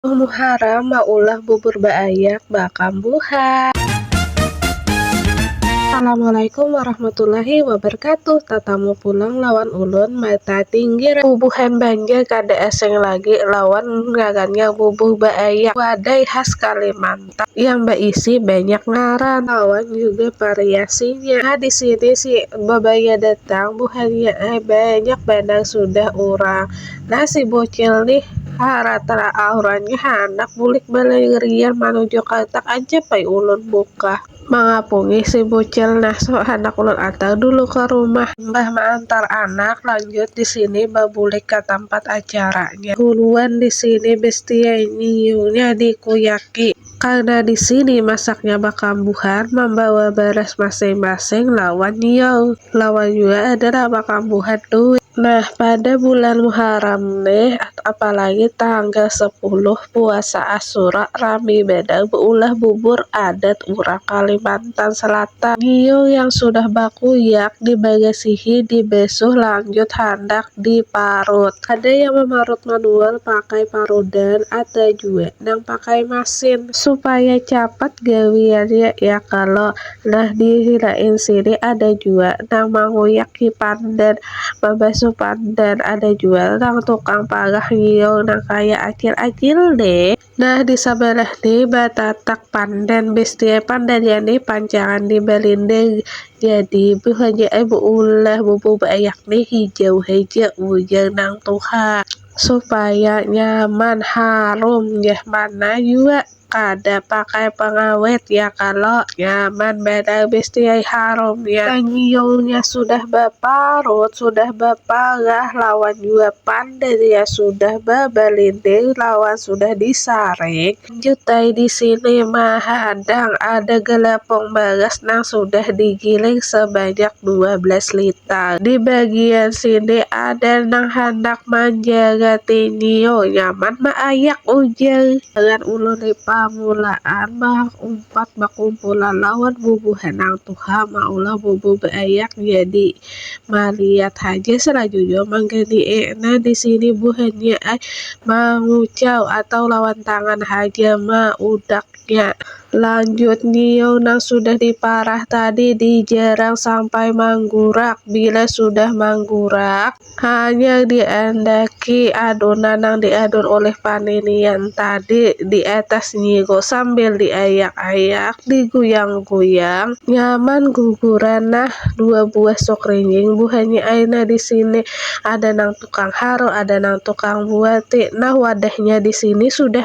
Abah Muharam maulah bubur baayak baakam buha. Assalamualaikum warahmatullahi wabarkatuh tatamu pulang lawan ulun mata tinggiran bubuhan banjar kada asing lagi lawan ngarannya bubuh baayak wadai khas kalimantan. Tang yang baisi banyak ngaran lawan juga variasinya. Nah, di sini si babaya datang buhannya ai banyak banar sudah orang. Nah, si bocil nih haratra aurannya handak bulik balarian manuju katak aja pai ulun bukah. Mangapungi si bucil nah so handak ulun antar dulu ka rumah. Imbah maantar anak lanjut disini babulik ka tampat acaranya. Buruan disini bestie nyiumnya dikuyaki. Karna disini masaknya bakambuhan mambawa baras masing masing lawan nyium. Lawan jua adalah bakambuhan duit. Nah pada bulan muharam nih apalagi tanggal sepuluh. puasa Asyura rami banar beulah bubur adat urang Kalimantan Selatan. Ngiyu yang sudah bakuyak dibagasihi dibesuh lanjut handak diparut. Ada yang mamarut manual pakai parudan ada jua nang pakai masin. Supaya capat gawiannya ya kalo. Nah di lain sini ada jua nang manguyak hipandan Mabasuh pandan ada jua nang tukang palah nyiul nang kaya acil-acil ne. Nah di sabalah ne batatak pandan bestie pandannya ne pancangan di balindang jadi buhannya ai beulah bubur baayak ne hijau haja ujar nang tuha. Supaya nyaman harum jar mana jua Kada pakai pengawet ya kalo. Nyaman banar besti ai harum ya. Tangiyungnya sudah baparut, sudah baparah lawan jua pander ya sudah babalindir lawan sudah disaring. Lanjut ai di sini mahadang ada galapung baras nang sudah digiling sebanyak dua belas liter. Di bagian sini ada nang handak manjarati nyiur, nyaman maayak ujar. Tangan ulun di pamulaan baumpat bakumpulan lawan bubuhan nang tuha maulah bubu beayak jadi maliat haja sarajujur manggani e nah disini buhannya ai mangucau atau lawan tangan haja maudaknya. Lanjut nyiau nang sudah di parah tadi di jarang sampai manggurak bila sudah manggurak. Hanyar diandaki adonan nang diadun oleh paninian tadi di atas nyigo sambil diayak-ayak, diguyang-guyang, nyaman guguran nah dua buah suk rinjing buhannya ai nah di sini, ada nang tukang haru, ada nang tukang buati, nah wadahnya di sini sudah.